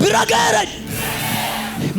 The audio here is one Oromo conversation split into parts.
bira geerany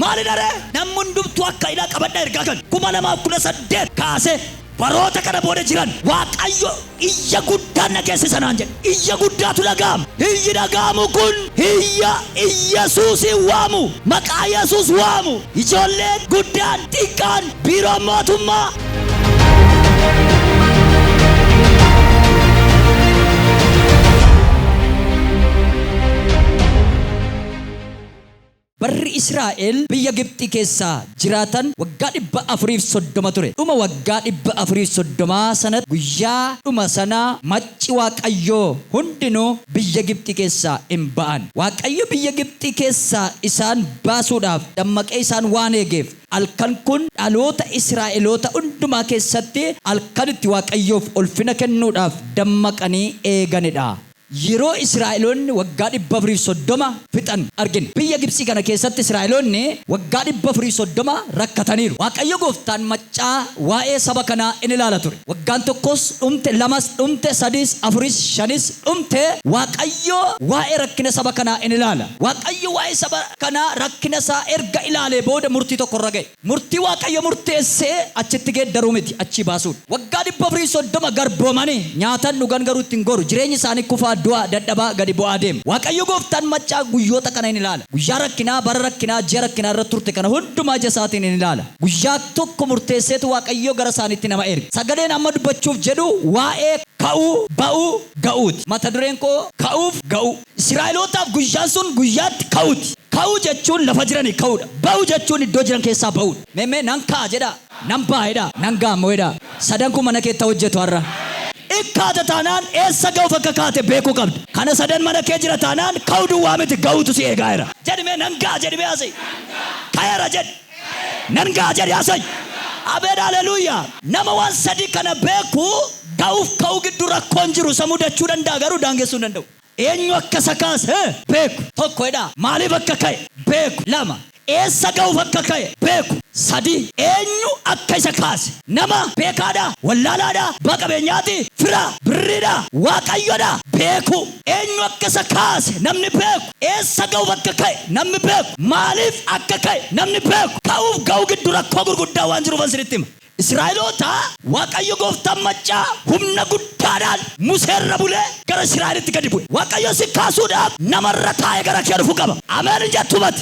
maalidha ree? Namni hundumtuu akka ila qabadha ergaa kan 2018 kaasee baroota kana booda jiran Waaqayyo iyya guddaan dhageessisa naan jedhe. Iyya guddaatu dhaga'ama. Iyyi dhaga'amu kun iyya Iyyasuusiin waamu, maqaa Yesuus waamu. Ijoolleen, guddaan, xiqqaan, Biiroon Mootummaa. Barri Israa'el biyya Gibxii keessa jiraatan waggaa 430 ture. Dhuma waggaa 430 sanatti guyyaa dhuma sana macci Waaqayyoo hundinuu biyya Gibxii keessaa in ba'an. Waaqayyo biyya Gibxii keessaa isaan baasuudhaaf dammaqee isaan waan eegeef, Halkan kun dhaloota Israa'eloota hundumaa keessatti halkan itti Waaqayyoof ulfina kennuudhaaf dammaqanii eegani dha. Yeroo Israa'eloonni waggaa 430 fixan argina. Biyya Gibtsii kana keessatti Israa'eloonni waggaa 430 rakkataniiru. Waaqayyo gooftaan maccaa waa'ee saba kanaa in ilaala ture. Waggaan tokkos dhumte, lamas dhumte, sadiis, afuris, shanis dhumte, Waaqayyo waa'ee rakkina saba kanaa in ilaala. Waaqayyo waa'ee saba kanaa rakkina isaa erga ilaalee booda murtii tokko irra ga'e. Murtii Waaqayyo murteesse achitti geeddaruu miti, achii baasuu dha. Waggaa 430 garboomani, nyaatan, dhugan, garuu itti hin goru. Jireenyi isaanii kufaa, du'aa, dadhabaa, gadi bu'aa deema. Waaqayyo gooftaan maccaa guyyoota kana in ilaala. Guyyaa rakkinaa, bara rakkinaa, ji'a rakkinaa irra turte kana hundumaa ija isaatiin in ilaala. Guyyaa tokko murteesseetu Waaqayyo gara isaaniitti nama erge. Sagaleen amma dubbachuuf jedhu waa'ee ka'uu, ba'uu, ga'uuti. Mata dureen koo Ka'uuf Ga'uu. Israa'elootaaf guyyaan sun guyyaa itti ka'uuti. Ka'uu jechuun lafa jiranii ka'uudha. Ba'uu jechuun iddoo jiran keessaa ba'uudha. Mee mee nan ka'a jedhaa. Nan ba'a jedhaa. Nan ga'a immoo jedhaa. Sadan kun mana keetti haa hojjetu har'a. In kaata taanaan eessa ga'uuf akka kaate beekuu qabda. Kana sadan mana kee jira taanaan ka'uu duwwaa miti ga'uutu si eegaa jira. Jedhi mee nan ga'a jedhi mee asii. Ka'eera jedhi. Nan ga'a jedhi Asay. Abeel Haleluya! Nama waan sadii kana beeku ga'uuf ka'uu gidduu rakkoon jiru isa mudachuu danda'a garuu daangessuu hin danda'u. Eenyu akka isa kaase beeku. 1 jedhaa. Maaliif akka ka'e beeku. 2 eessa ga'uuf akka ka'e beeku. 3 eenyu akka isa kaase. Nama? Beekaadhaa? Wallaalaadhaa? Abbaa qabeenyaati? Firaa? Birriidhaa? Waaqayyodhaa? Beekuu. Eenyu akka isa kaase namni beeku? Eessa ga'uuf akka ka'e namni beeku? Maaliif akka ka'e namni beeku? Ka'uuf ga'uu giddu rakkoo gurguddaa waan jiruufan isinitti hima. Israa'eloota Waaqayyo gooftaan maccaa humna guddaadhaan Musee irra bulee gara Israa'elitti gadi bu'e. Waaqayyo si kaasuudhaaf nama irra taa'ee gara kee dhufu qaba. Ameen hin jettuumati?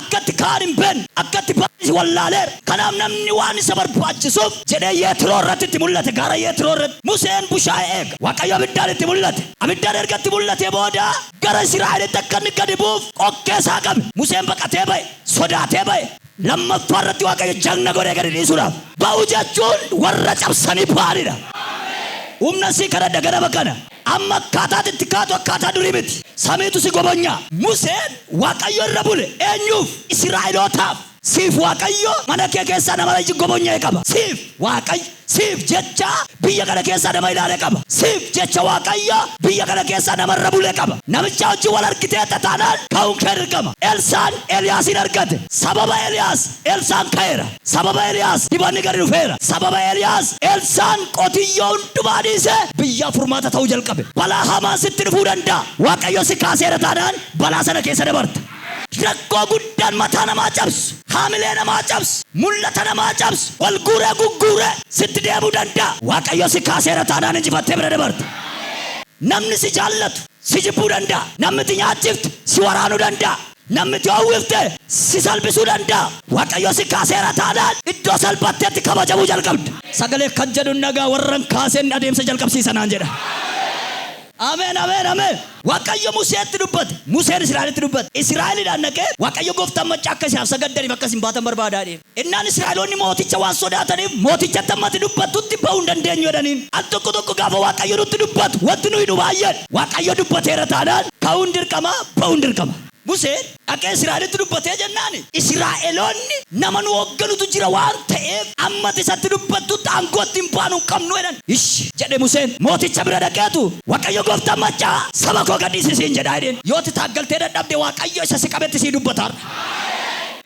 Akka itti ka'an hin beekne, akka itti ba'anis wallaaleera. Kanaaf namni waan isa barbaachisuuf jedhee Yetroo irratti itti mul'ate, gaara Yetroo irratti. Museen bushaayee eega. Waaqayyo abiddaan itti mul'ate. Abiddaan erga itti mul'atee booda gara Israa'elitti akka inni gadi bu'uuf qokkee isaa qabe. Museen baqatee ba'e, sodaatee ba'e. Lammaffaa irratti Waaqayyo jagna godhee gadi dhiisuudhaaf. Ba'uu jechuun warra cabsanii ba'anidha. Humna sii kadhadha ganama kana. Amma akkaataa ati itti kaatu akkaataa durii miti. Samiitu si gobonya. Museen Waaqayyo irra bule. Eenyuuf? Isiraa'elootaaf. Siif Waaqayyo mana kee keessaa nama lagi gobonya'e qaba. Siif Waaqayy siif jecha biyya kana keessaa nama ilaale qaba. Siif jecha Waaqayyo biyya kana keessaa nama irra bule qaba. Namichaa wajjin wal argiteetta taanaan ka'uun kee dirqama. Elsaan Eliyaasiin argate. Sababa Eliyaas, Elsaan ka'eera. Sababa Eliyaas dibanni gadi dhufeera. Sababa Eliyaas Elsaan qotiyyoo hundumaa dhiisee biyyaaf furmaata ta'uu jalqabe. Balaa hamaan sitti dhufuu danda'a. Waaqayyo si kaaseera taanaan balaa sana keessa dabarta. Rakkoo guddaan mataa namaa cabsu, haamilee namaa cabsu, mul'ata namaa cabsu, ol guuree gugguuree sitti deemuu danda'a. Waaqayyo si kaaseera taanaan injifattee bira dabarta. Namni si jaallatu si jibbuu danda'a. Namni ati nyaachifte si waraanuu danda'a. Namni si howwifte si salphisuu danda'a. Waaqayyo si kaaseera taanaan iddoo salphattetti kabajamuu jalqabda. Sagalee kan jedhu nagaa warran kaaseen adeemsa jalqabsiisa naan jedha. Ameen Ameen Ameen. Waaqayyo Museetti dubbate. Museen Israa'elitti dubbate. Israa'elidhaan dhaqee Waaqayyo gooftaan maccaa akka isaaf sagaddaniif akka isin baatan barbaada jedheen. Ennaan Israa'eloonni mooticha waan sodaataniif, mootichatti hamma ati dubbattutti ba'uu hin dandeenyu jedhaniin. Al tokko tokko gaafa Waaqayyo nutti dubbatu wanti nuyi nu baay'een, Waaqayyo dubbateera taanaan ka'uun dirqama, ba'uun dirqama. Museen dhaqee Israa'elitti dubbatee jennaan, Israa'eloonni nama nu hoogganutu jira waan ta'eef hamma ati isatti dubbattutti aangoo ittiin baanu hin qabnu jedhan. Ishi! jedhe Museen mooticha bira dhaqeetu, Waaqayyo gooftaan maccaa, Saba koo gad dhiisi siin jedha jedheen. Yoo ati taaggaltee dadhabde Waaqayyo isa si qabetti sii dubbata har'a.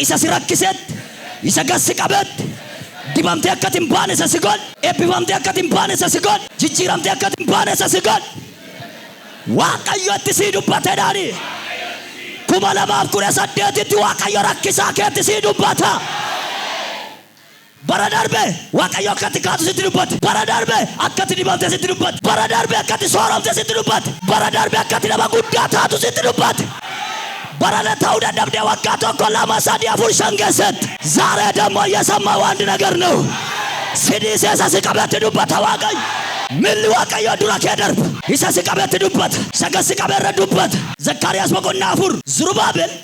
Isa si rakkisetti, isa gad si qabetti, dibamtee akka ati hin baane isa si godhe, eebbifamtee akka ati hin baane isa si godhe, jijjiiramtee akka ati hin baane isa si godhe, Waaqayyo itti sii dubbate daani. 2018tti Waaqayyo rakkisaa keetti sii dubbata. Bara darbe Waaqayyo akka ati kaatu sitti dubbate. Bara darbe akka ati dibamte sitti dubbate. Bara darbe akka ati sooromte sitti dubbate. Bara darbe akka ati nama guddaa taatu sitti dubbate. Barana ta'uu dadhabdee waggaa tokko, lama, sadii, afur, shan keessatti. Zaaree dammoo yesammaa'u andi nagar na'u. Si dhiisee isa si qabetti dubbata Waaqayyo. Milli Waaqayyoo dura kee darba. Isa si qabetti dubbata. Isa gad si qabe irra dubbata. Zakkaariyaas boqonnaa 4 Zurubaabel.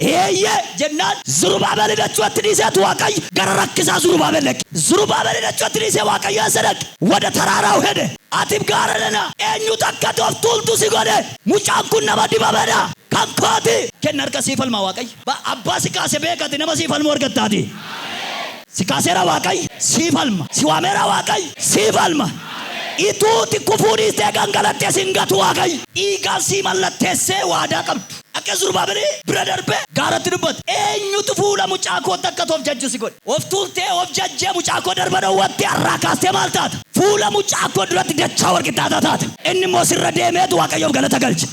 Eeyyee! jennaan, Zurubaabel idachuu itti dhiiseet Waaqayy gara rakkisaa Zurubaabel dhaqe. Zurubaabel idachuu itti dhiisee Waaqayyo eessa dhaqe? Wada taraaraaw hede. Atif gaara nana! Eenyutu akka ati of tuultu si godhe? Mucaan kun nama dibame dha! Kan koo ti! Kenna harka sii falmaa Waaqayy. Ba, Abbaa si kaase beeka ati nama sii falmu argattaatii. Si kaaseera Waaqayy, sii falma. Si waameera Waaqayy, sii falma. Ituu ati kufuu dhiistee gangalatte si hin gatu Waaqayy. Dhiigaan sii mallatteessee waadaa qabdu. Akka Zurubabeli bira darbee gaaratti dubbate. Eenyutu fuula mucaa kootti akka ati of jajju si godhe? Of tuultee, of jajjee mucaa koo darba dhowwatte, har'aa kaastee maal taata? Fuula mucaa koo duratti dachaa wal qixxaataa taata. Inni immoo sirra deemeetu Waaqayyoof galata galche.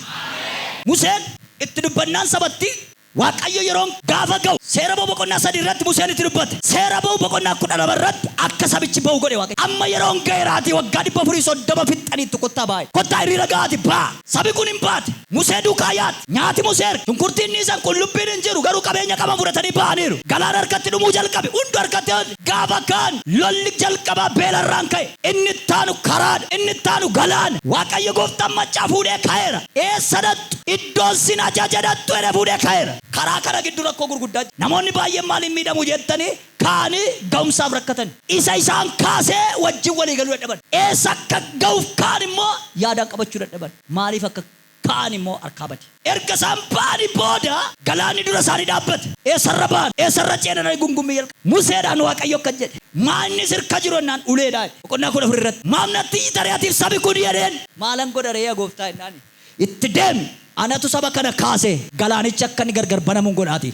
Museen itti dubbannaan sabattii Waaqayyo yeroon gaafa ga'u Seera Ba'uu boqonnaa 3 irratti Museen itti dubbate. Seera Ba'uu boqonnaa 12 irratti akka sabichi ba'u godhe Waaqayyo. Amma yeroon ga'eeraatii waggaa 430 fixxaniittu kottaa ba'aa jedhe. Kottaa hiriira ga'aati ba'aa. Sabi kun hin baate. Musee duukaa yaad. Nyaati Musee erga. Shunkurtiin dhiisan qullubbiin hin jiru garuu qabeenya qaban fudhatanii ba'aniiru. Galaan harkatti dhumuu jalqabe. Hundu harkatti hafe. Gaafa kaan lolli jalqabaa beela irraan ka'e. Inni itti aanu karaadha. Inni itti aanu galaana. Waaqayyo gooftaan maccaa fuudhee ka'eera. Eessa dhaqxu? Iddoon sin ajaje dhaqxu jedhee fuudhee ka'eera. Karaa kana giddu rakkoo gurguddaa jira. Namoonni baay'een maaliin miidhamu jettanii ka'anii ga'umsaaf rakkatan. Isa isaan kaasee wajjin walii galuu dadhaban. Eessa akka ga'uuf ka'an immoo yaadaan qabachuu dadhaban. Maaliif akka ka'an immoo harkaa bade. Erga isaan ba'anii booda galaanni dura isaanii dhaabbate. Eessa irra ba'an? Eessa irra ce'an? jedhanii gungummii jalqaban. Museedhaan Waaqayyo akkas jedhe. Maa inni si irka jiru jennaan ulee dha jedhe. Boqonnaa 14 irratti. Maaf natti iyyita ree atiif sabi kun? jedheen. Maalan godha ree yaa gooftaa jennaani. Itti deemi! Anatu saba kana kaasee galaanichi akka inni gargar banamun godhaatii.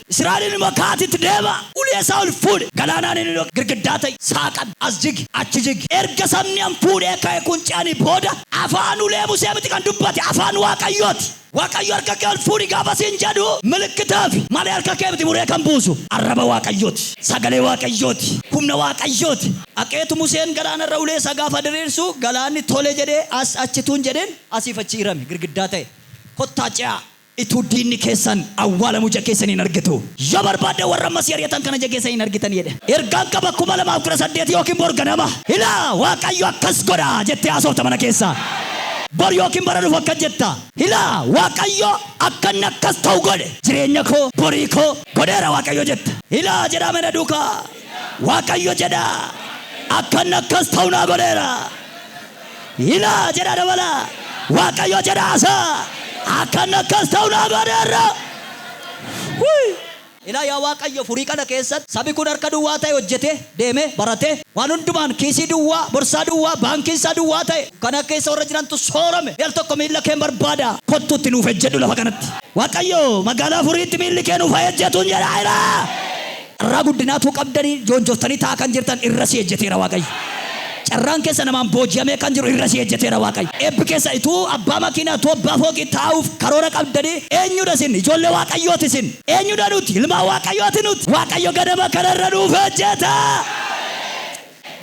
Israa'eliin immoo, Ka'aatii itti deemaa! Ulee isaa ol fuudhi! Galaanaan inni dhoqqee girgiddaa ta'i! Saaqadhu! As jigi! Achi jigi! Erga sabni an fuudhee ka'e kun ce'anii booda, afaan ulee Musee miti kan dubbate, afaan Waaqayyoo ti! Waaqayyo harka kee ol fuudhi gaafa siin jedhu, milikkitaafi malee harka kee miti muree kan buusu! Arraba Waaqayyoo ti! Sagalee Waaqayyoo ti! Humna Waaqayyoo ti! Dhaqeetu Museen galaana irra ulee isaa gaafa diriirsu, galaanni tole jedhee as achi utuu hin jedhin, asiif achi hirame, girgiddaa ta'e. Kottaa ce'aa! Utuu diinni keessan awwaalamuu ija keessanii hin argitu. Yoo barbaaddan warra amma si ari'atan kana ija keessanii hin argitan jedhe. Ergaan qaba 2018 ykn bor ganama. Ilaa! Waaqayyo akkas godha! jettee haasofta mana keessa. Bor ykn bara dhufu akkas jetta. Ilaa! Waaqayyo akka inni akkas ta'u godhe. Jireenya koo, borii koo, godheera Waaqayyo jetta. Ilaa! jedhaa mee na duukaa. Waaqayyo jedhaa. Akka inni akkas ta'u naa godheera. Ilaa! jedha dabala. Waaqayyo jedha asa. Akka inni akkas ta'u naa godheerra. Whii! Ilaa yaa Waaqayyo furii kana keessatti sabi kun harka duwwaa ta'e hojjetee, deemee, baratee, waan hundumaan kiisii duwwaa, borsaa duwwaa, baankiin isaa duwwaa ta'e dukkana keessa warra jirantu soorame. Mee al tokko miilla keen barbaada. Kottu itti nuuf ejjedhu lafa kanatti. Waaqayyo magaalaa furiitti miilli kee nuuf haa ejjetuun jedha ilaa! Carraa guddinaa utuu qabdanii joonjoftanii taa'aa kan jirtan irra si ejjeteera Waaqayyo. Carraan keessa namaan booji'amee kan jiru irra si ejjeteera Waaqayyo. Eebbi keessa utuu abbaa makiinaa, utuu abbaa fooqii taa'uuf karoora qabdanii eenyudha isin? Ijoollee Waaqayyooti isin. Eenyudha nuti? Ilmaan Waaqayyooti nuti. Waaqayyo ganama kana irra nuuf ejjeta!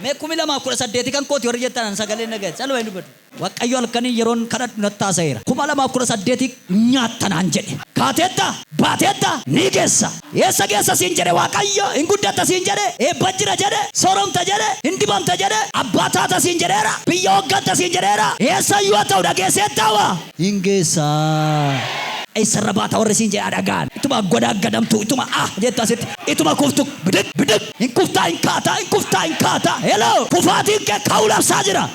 Mee 2018 kan kooti warri jettan an sagalee hin dhaga'e. Caluma hin dubbadhu. Waqqayyo halkaniin yeroon kadhadhu natti haasa'eera. 2018 hin nyaatta naan jedhe. Kaateetta? Baateetta? Ni geessa. Eessa geessa siin jedhe Waaqayyo? Hin guddatta siin jedhe? Eebba jira jedhe? Sooromta jedhe? Hin dibamta jedhe? Abbaa taata siin jedheera? Biyya hooggatta siin jedheera? Eessa iyyuu haa ta'u dhageesseettaa waa? Hin geessa. Eessa irra baata warri siin jedhe haa dhaga'an. Ituma godaaggadaamtu, ituma ah jettu asitti, ituma kuftu bidiq bidiq! Hin kuftaa hin kaataa, hin kuftaa hin kaataa. Hello! Kufaatiin kee ka'uu labsaa jira.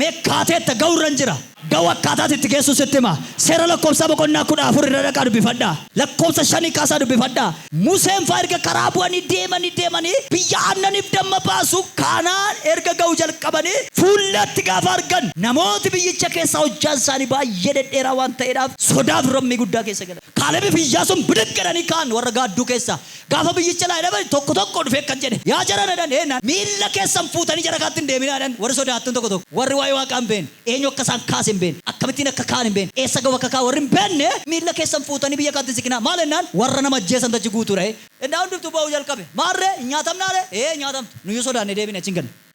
Mee kaateetta, ga'u irran jira. Ga'u akkaataa ati itti geessu sitti hima. Seera Lakkoobsaa boqonnaa 14 irra dhaqaa dubbifadhaa. Lakkoobsa 5 kaasaa dubbifadhaa. Museen faa erga karaa bu'anii deemanii deemanii biyya aannaniif damma baasu Kaana'aan erga ga'u jalqabanii fuullatti gaafa argan namooti biyyicha keessaa hojjaan isaanii baay'ee dhedheeraa waan ta'eedhaaf sodaa fi rammii guddaa keessa galan. Kaalebiif Iyyaasuun bidiq jedhanii ka'an warra gaadduu keessaa. Gaafa biyyi jalaa hidhamani tokko tokko dhufee akkan jedhe, Yaa jarana jedhan eennaan, miilla keessan fuutanii jara kaatti hin deeminaa jedhan warri sodaattuun tokko tokko. Warri waa'ee Waaqaa hin beenne, eenyu akka isaan kaase hin beenne, akkamittiin akka ka'an hin beenne, eessa ga'u akka ka'an warri hin beenne, miilla keessan fuutanii biyya kaatti hin siqinaa. Maal ennaan, warra nama ajjeesantu achi guutuu dha. Ennaa hundumtuu boo'uu jalqabe. Maarree, hin nyaatamnaa ree? Ee, hin nyaatamtu. Nuyyuu sodaannee deebinee achi hin galle.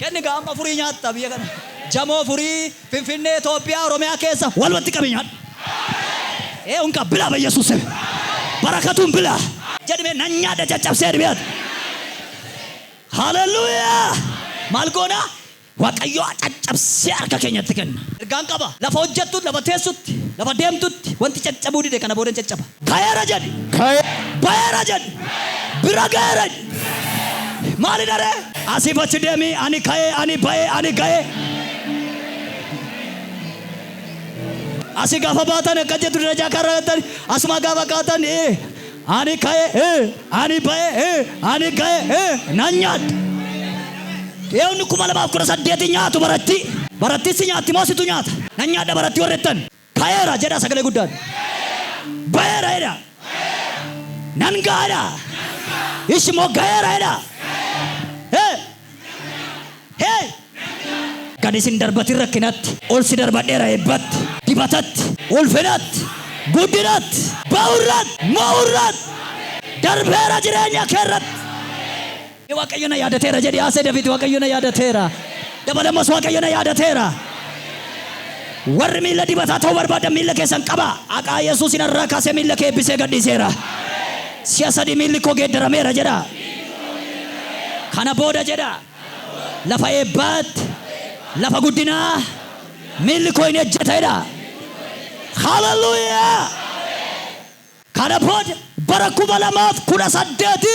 Kenni gaa amma furii nyaatta biyya kana jamoo furii finfinnee Ethiopia oromiyaa keessa walumatti qabi nyaadhu ee unka bilaa bayyessus seme barakatuun bilaa jedhi mee nan nyaadha caccabsee jedhi mee haleluyaa maal goona waqayyoo caccabsee harka keenyatti kenna. Ergaan qaba lafa hojjettutti lafa teessutti lafa deemtutti wanti caccabuu dide kana booda hin caccaba. Ka'eera jedhi. Ka'e. Ba'eera jedhi. Bira ga'eera jedhi. Maalidha ree? Asiif achi deemi, ani ka'e, ani ba'e, ani ga'e. Asi gaafa baatan akka jettu darajaa kaarra gattani asuma gaafa kaatan ee ani ka'e ee ani ba'e ee ani ga'e ee nan nyaadha. Eewni kuma lamaaf kudha saddeeti nyaatu baratti. Barattiin si nyaatti moo situ nyaata? Nan nyaadha baratti warri jettan. Ta'eera jedhaa sagalee guddaan. Ba'eera jedhaa. Nan ga'a jedhaa. Ishi immoo ga'eera jedhaa. Hee! Hee! Gadi sin darbatin rakkinatti. Ol si darbadheera eebbatti. Dibatatti. Ulfinatti. Guddinatti. Ba'urratti. Mo'urratti. Darbeera jireenya keerratti. Waaqayyo na yaadateera jedhi haasee David Waaqayyo na yaadateera. Dabalamas Waaqayyo na yaadateera. Warri miila dibataa ta'uu barbaadan miila keessan qabaa. Haqaa Yesuusin irraa kaasee miila kee eebbisee gadhiiseera. Si'a sadii miilli koo geeddarameera jedha. Kana booda jedha. Lafa eebbaatti, lafa guddinaa miilli koo hin ejjeta jedha. Haleluuyaa! Kana booda bara kuma lamaaf kudha saddeeti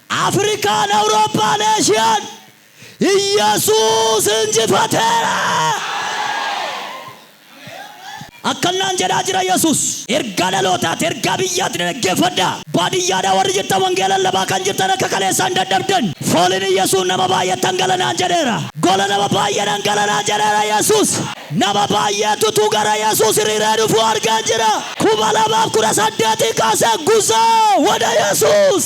Afrikaan, Awurooppaan, Eeshiyaan Iyyesuus injifateera! Akkannaan jedhaa jira Yesuus. Ergaa dhalootaati, ergaa biyyaati na dhaggeeffadhaa. Baadiyyaadhaa warri jirtan wangeela lallabaa kan jirtan akka kaleessaa hin dadhabdan. Fooliin Iyyesuus nama baay'eettan gala naan jedheera. Gola nama baay'eedhan gala naan jedheera Yesuus. Nama baay'eetutu gara Yesuus hiriiree dhufu argeen jira. 2018 kaasee guzaa wada Yesuus.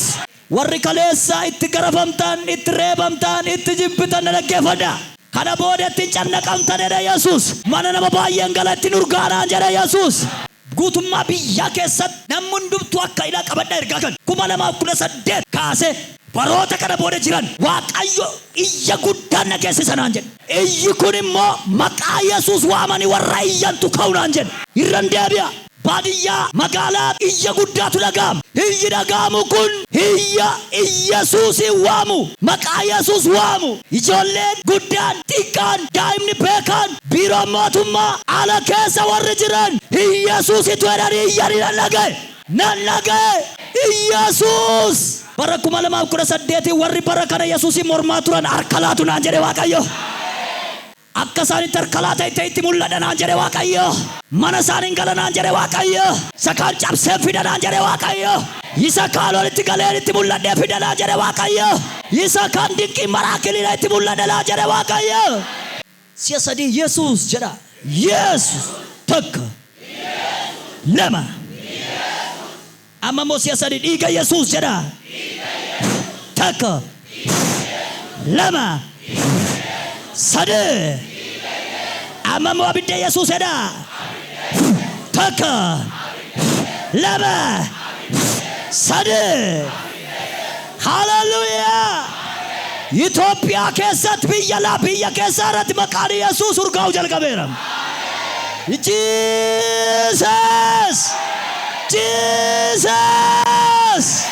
Warri kaleessa itti garafamtan, itti reebamtan, itti jibbitan na dhaggeeffadhaa. Kana booda itti hin cannaqamtan jedhe Yesuus. Mana nama baay'een gala ittin urgaa'a naan jedhe Yesuus. Guutummaa biyyaa keessatti namni hundumtuu akka hidhaa qabadhaa ergaa kan 2018 kaasee baroota kana booda jiran Waaqayyo iyya guddaan na geessisa naan jedhe. Iyyi kun immoo maqaa Yesuus waamanii warra iyyantu ka'u naan jedhe. Irran deebi'a, baadiyyaa, magaalaa iyya guddaatu dhaga'ama. Iyyi dhaga'amu kun iyya Yesuusiin waamu, maqaa Yesuus waamu. Ijoolleen, guddaan, xiqqaan, daa'imni, beekaan. Biiroon mootummaa ala keessa warri jiran Iyyesuusitu jedhanii iyyanii nan dhaga'e. Nan dhaga'e! Iyyesuus! Bara 2018 warri bara kana Yesuusiin mormaa turan harka laatu naan jedhe Waaqayyo. Akka isaan itti harka laata itti itti mul'adha naan jedhe Waaqayyo. Mana isaaniin gala naan jedhe Waaqayyo. Isa kaan cabseen fida naan jedhe Waaqayyo. Isa kaan walitti galeen itti mul'adhee fida naan jedhe Waaqayyo. Isa kaan dinqiin maraakiliidha itti mul'adha naan jedhe Waaqayyo. Si'a sadii Yesuus jedhaa. Yeesus! Tokko. Lama. Amma immoo si'a sadii dhiiga Yesuus jedhaa. Tokko. Lama. Sadii. Amma immoo abidda Yesuus jedhaa. Tokko. Lama. Sadii. Hallelujah! Itoophiyaa keessatti biyya alaa biyya keessaa irratti maqaan Yesuus urgaa'uu jalqabeera. Jesus! Jesus!